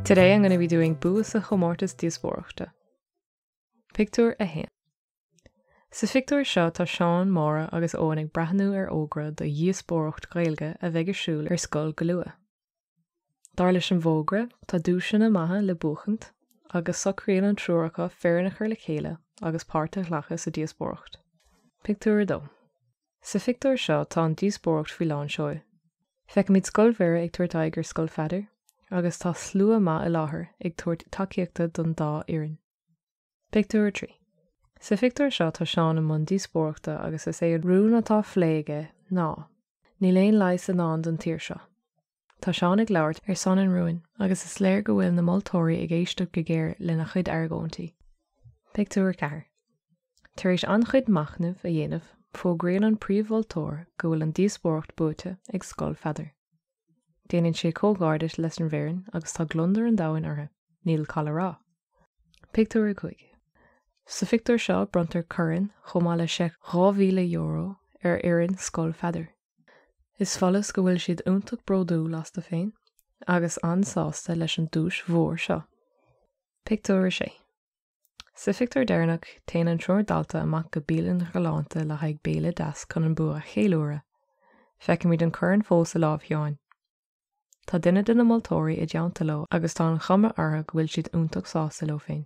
Today I'm going to be doing bua sa chomórtas díospóireachta. Pictiúr 1. Sa phictiúr seo tá Seán, Máire agus Eoin ag breathnú ar fhógra do dhíospóireacht Ghaeilge a bheidh ar siúl ar scoil go luath. Dar leis an bhfógra tá duaiseanna maithe le buachaint agus socraíonn an triúr acu foireann a chur le chéile agus páirt a ghlacadh sa díospóireacht. Pictiúr 2 Sa phictiúr seo tá an díospóireacht faoi lán seoil. Feicimid Scoil Mhuire ag tabhairt aghaidh ar Scoil Pheadair agus tá slua maith i láthair ag tabhairt tacaíochta don dá fhoireann. Pictiúr 3. Sa phictiúr seo tá Seán i mbun díospóireachta agus is é an rún atá á phlé aige ná, Níl aon leigheas i ndán don tír seo. Tá Seán ag labhairt ar son an rúin agus is léir go bhfuil na moltóirí ag éisteacht go géar lena chuid argóintí. Pictiúr 4. Tar éis an-chuid machnaimh a dhéanamh, fógraíonn an príomh-mholtóir go bhfuil an díospóireacht buaite ag Scoil Pheadair. Déanann sé comhghairdeas leis an bhfoireann agus tá gliondar an domhain orthu, níl call a rá. Pictiúr a cúig. Sa phictiúr seo bronntar corn chomh maith le seic €2,000 ar fhoireann Scoil Pheadair. Is follas go bhfuil siad iontach bródúil astu féin agus an-sásta leis an duais mhór seo. Pictiúr a sé. Sa phictiúr deireanach téann an triúr dalta amach go bialann ghalánta le haghaidh béile deas chun an bua a cheiliúradh. Feicimid an corn fós i lámh Sheáin. Tá duine de na moltóirí i dteannta leo agus tá an chuma orthu go bhfuil siad iontach sásta leo féin.